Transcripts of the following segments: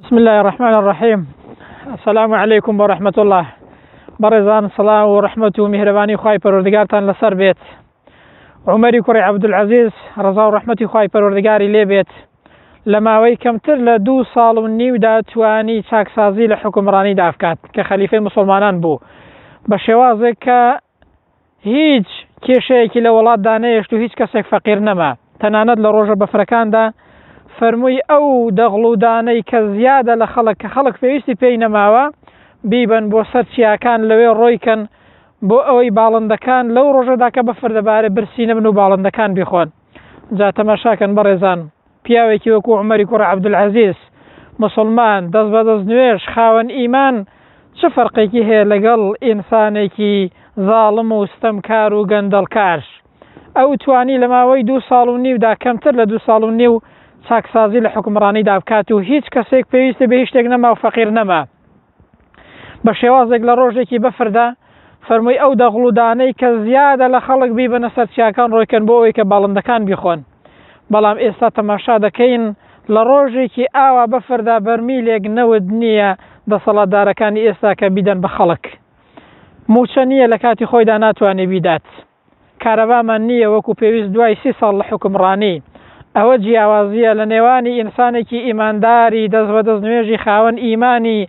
بسم اللە الرحمن الرحیم السلام علیکم و رحمت اللە بەڕێزان سڵاو و رحمت و میهرەبانی خوای پەروەردگارتان لەسەر بێت عمری کوڕی عەبدولعەزیز ڕەزا و رحمتی خوای پەروەردگاری لێ بێت لە ماوەی کەمتر لە دوو ساڵ و نیودا توانی چاکسازی لە حکومڕانی دابکات کە خەلیفەی مسلمانان بوو بە شێوازێک کە هیچ کێشەیەکی لە وڵاتدا نەهێشت و هیچ کەسێک فەقیر نەما، تەنانەت لە ڕۆژە بەفرەکاندا فەرمووی ئەو دەغڵ و دانەی کە زیادە لە خەڵک کە خەڵک پێویستی پێی نەماوە بیبەن بۆ سەر چیاکان لەوێ ڕۆیکەن بۆ ئەوەی باڵندەکان لەو ڕۆژەدا کە بەفر دەبارێت برسی نەبن و باڵندەکان بیخۆن جا تەماشاکەن بەڕێزان. پیاوێکی وەکو عومەری کوڕە عەبدولعەزیز، موسڵمان، دەست بە دەست نوێژ، خاوەن ئیمان، چ فەرقێکی هەیە لەگەڵ ئینسانێکی زاڵم و ستەمکار و گەندەڵکار؟ ئەو توانی لە ماوەی دوو ساڵ و نیودا کەمتر لە دوو ساڵ و نیو چاکسازی لە حوکمڕانیدا بکات و هیچ کەسێک پێویستی بە هیچ شتێک نەما و فەقیر نەما. بە شێوازێک لە ڕۆژێکی بەفردا فەرمووی ئەو دەغڵ و دانەی کە زیادە لە خەڵک بیبەنە سەر چیاکان ڕۆیکەن بۆ ئەوەی کە باڵندەکان بیخۆن بەڵام ئێستا تەماشا دەکەین لە ڕۆژێکی ئاوا بەفردا بەرمیلێک نەوت نییە دەسەڵاتدارەکانی ئێستا کە بیدەن بە خەڵک موچە نییە لە کاتی خۆیدا ناتوانێ بیدات. کارەبامان نییە وەکو پێویست دوای سی ساڵ لە حوکمڕانی، ئەوە جیاوازییە لە نێوانی ئینسانێکی ئیمانداری دەست بەدەست نوێژی خاوەن ئیمانی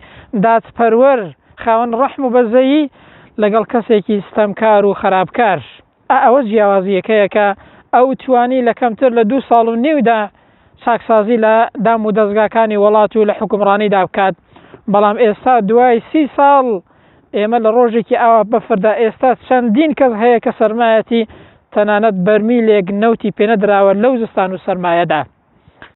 دادپەروەر خاوەن ڕەحم و بەزەیی لەگەڵ کەسێکی ستەمکار و خەراپکار ئا ئەوە جیاوازییەکەیە کە ئەو توانی لە کەمتر لە دوو ساڵ و نیودا چاکسازی لە دام و دەزگاکانی وەڵات و لە حوکمڕانیدا بکات بەڵام ئێستا دوای سی ساڵ ئێمە لە ڕۆژێکی ئاوا بەفردا ئێستا چەندین کەس هەیە کە سەرمایەتی تەنانەت بەرمیلێک نەوتی پێنەدراوە لەو زستان و سەرمایەدا.